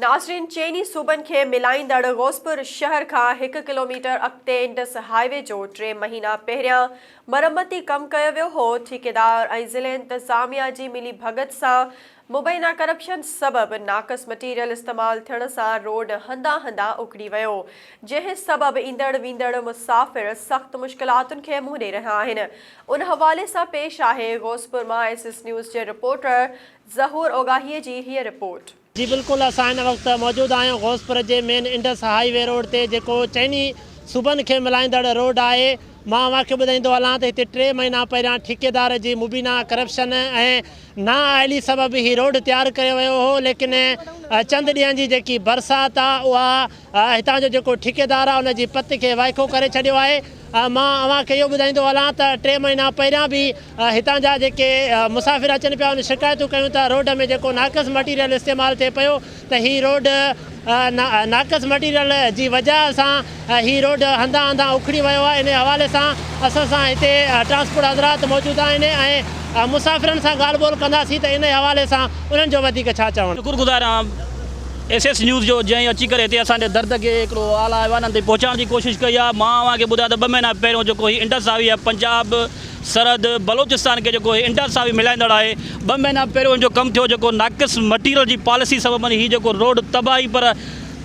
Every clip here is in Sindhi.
ناظرين چئني صوبن کي ملائيندڙ غوثپور شهر کان هڪ ڪلوميٽر اڳتي انڊس هاء وي جو ٽي مهينا پهريان مرمتي ڪم ڪيو ويو هو، ٺيڪيدار ۽ ضلعي انتظاميا جي ملي ڀڳت سان مبينا ڪرپشن سبب ناقص مٽيريل استعمال ٿيڻ سان روڊ هنڌان هنڌان اکڙي ويو جنهن سبب ايندڙ ويندڙ مسافر سخت مشڪلاتن کي منهن ڏئي رهيا آهن ان حوالي سان پيش آهي غوثپور مان ايس ايس نيوز جي رپورٽر ظهور اوڳاهي جي هيء رپورٽ. جي بلڪل اسان هن وقت موجود آهيون غوثپور جي main Indus highway road تي جيڪو چئني صوبن کي ملائيندڙ روڊ آهي مان اوهان کي ٻڌائيندو هلان ته هتي ٽي مهينا پهريان ٺيڪيدار جي مبينا ڪرپشن ۽ نا اهلي سبب هي روڊ تيار ڪيو ويو هو ليڪن چند ڏينهن جي جيڪي برسات آهي اها هتان جو جيڪو ٺيڪيدار آهي ان جي پت کي وائکو ڪري ڇڏيو آهي مان اوهان کي اهو ٻڌائيندو هلان ته ٽي مهينا پهريان به هتان جا جيڪي مسافر اچن پيا ان شڪايتون ڪيون ته روڊ ۾ جيڪو ناقص مٽيريل استعمال ٿئي پيو ته هي روڊ ناقص مٽيريل جي وجه سان هي روڊ هنڌان هنڌان اکڙي ويو آهي انهي حوالي سان اسان سان هتي ٽرانسپورٽ حضرات موجود آهن ۽ مسافرن سان ڳالهه ٻولهه ڪنداسين ته انهي حوالي سان انهن جو وڌيڪ ڇا چوڻ. شڪر گذار آهيان. ايس ايس نيوز جو جنهن اچي ڪري هتي اسان جي درد کي هڪڙو اعليٰ ايوانن تائين پهچائڻ جي ڪوشش ڪئي آهي مان اوهان کي ٻڌايان ته ٻه مهينا پهريون جيڪو هي انڊس هاء وي آهي پنجاب سرحد بلوچستان کي جيڪو هي انڊس هاء وي ملائيندڙ آهي ٻه مهينا پهريون هن جو ڪم ٿيو جيڪو ناقص مٽيريل جي پاليسي سببن هي جيڪو روڊ تباهي پر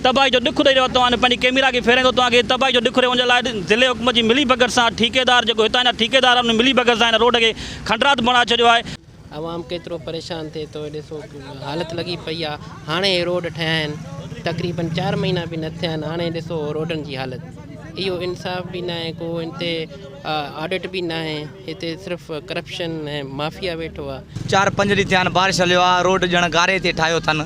تباهي جو ڏک ڏئي رهيو آهي توهان پنهنجي ڪيميرا کي ڦيرائيندو توهان کي تباهي جو ڏک ڏئي ان جي لاء ضلعي حڪومت جي ملي ڀڳت سان ٺيڪيدار جيڪو هتان جا ٺيڪيدار آهن ان ملي ڀڳت سان هن روڊ کي کنڊرات بڻائي ڇڏيو آهي عوام ڪيترو پريشان ٿئي ٿو ڏسو حالت لڳي پئي آ هاڻي هي روڊ ٺهيا آهن تقريبن چار مهينا به نه ٿيا آهن هاڻي ڏسو روڊن جي حالت اهو انصاف به ناهي ڪو ان تي آڊٽ به ناهي هتي صرف ڪرپشن ۽ مافيا ويٺو آ. چار پنج ڏينهن ٿيا آهن بارش هليو آ روڊ ڄڻ گاري تي ٺاهيو اٿن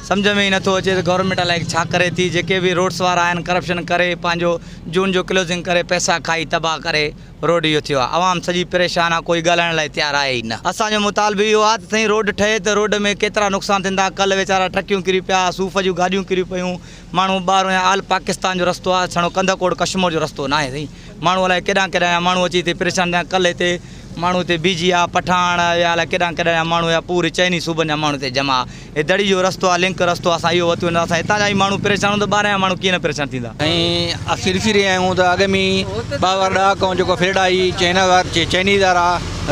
سمجهه ۾ ئي نٿو اچي ته گورنمينٽ الائي ڇا ڪري ٿي جيڪي به روڊس وارا آهن ڪرپشن ڪري پنهنجو جون جو ڪلوزنگ ڪري پئسا کائي تباهه ڪري روڊ اهو ٿيو آ عوام سڄي پريشان آ ڪوئي ڳالهائڻ لاء تيار آهي ئي نه اسان جو مطالبو اهو آ ته سائين روڊ ٺهي ته روڊ ۾ ڪيترا نقصان ٿيندا ڪلهه ويچارا ٽرڪيون ڪري پيا صوف جون گاڏيون ڪري پيون ماڻهو ٻاهرون يا آل پاڪستان جو رستو آ سھڻو ڪنڌڪوٽ ڪشمور جو رستو ناهي سائين ماڻهو الائي ڪيڏانهن ڪيڏانهن جا ماڻهو اچي هتي پريشان ٿيا ڪلهه هتي ماڻهو هتي بيھجي آ پٺاڻ يا الائي ڪيڏانهن ڪيڏانهن جا ماڻهو يا پوري چئني صوبن جا ماڻهو هتي جمع آ. هي دڙي جو رستو آهي لنڪ رستو اسان اهو وتي وڃون اسان هتان جا ئي ماڻهو پريشان هوندا ٻاهران جا ماڻهو ڪيئن نه پريشان ٿيندا. ۽ اسين ڏسي رهيا آهيون ته اڳ ۾ ٻه هزار ڏهه کان جيڪو ڦرڙائي چينا وار چينيز وارا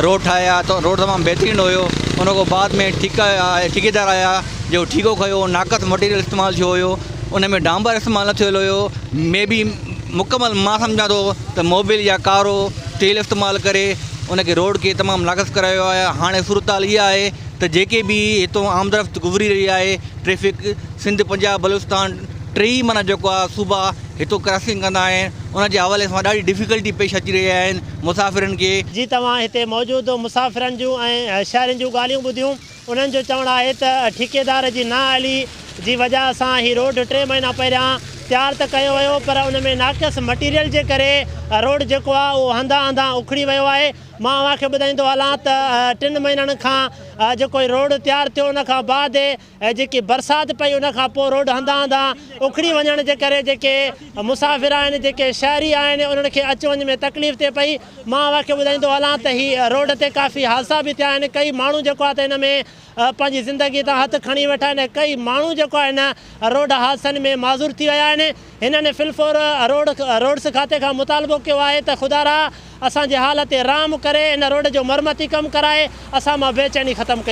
روڊ ٺاهيا ته روڊ تمام بهترين هيو ان کان بعد ۾ ٺيڪا ٺيڪيدار آيا جيڪو ٺيڪو کيو ناقص مٽيريل استعمال ٿيو هيو ان ۾ ڊانبر استعمال نه ٿيل هيو مي بي مڪمل مان سمجهان ٿو ته موبل يا ڪارو تيل استعمال ڪري ان کي روڊ کي تمام ناقص ڪرايو آهي هاڻي صورتحال اها آهي ته جيڪي به هتون آمدرفت گذري رهي آهي ٽريفڪ سنڌ پنجاب بلوچستان ٽي ئي معنيٰ جيڪو آهي صوبا هتون ڪراسنگ ڪندا آهن ان جي حوالي سان ڏاڍي ڊفيڪلٽي پيش اچي رهي آهن مسافرن کي. جي توهان هتي موجود مسافرن جون ۽ شهرين جون ڳالهيون ٻڌيون انهن جو چوڻ آهي ته ٺيڪيدار جي نااهلي جي وجه سان هي روڊ ٽي مهينا پهريان تيار ته ڪيو ويو پر ان ۾ ناقص مٽيريل جي ڪري روڊ جيڪو آهي اهو هنڌان هنڌان اکڙي ويو آهي مان اوهان کي ٻڌائيندو هلان ته ٽن مهينن کان جيڪو هي روڊ تيار ٿيو ان کان بعد جيڪي برسات پئي ان کان پوء روڊ هنڌان هنڌان اکڙي وڃڻ جي ڪري جيڪي مسافر آهن جيڪي شهري آهن انهن کي اچ وڃ ۾ تڪليف ٿئي پئي مان اوهان کي ٻڌائيندو هلان ته هي روڊ تي ڪافي حادثا به ٿيا آهن ڪئي ماڻهو جيڪو آهي ته هن ۾ پنهنجي زندگي تان هٿ کڻي ويٺا آهن ۽ ڪئي ماڻهو جيڪو آهي هن روڊ حادثن ۾ معذور ٿي ويا آهن هنن في الفور روڊس کاتي کان مطالبو ڪيو آهي ته خدارا اسان جي حال تي رحم ڪري ان روڊ جو مرمتي ڪم ڪرائي اسان مان بيچيني ختم ڪئي.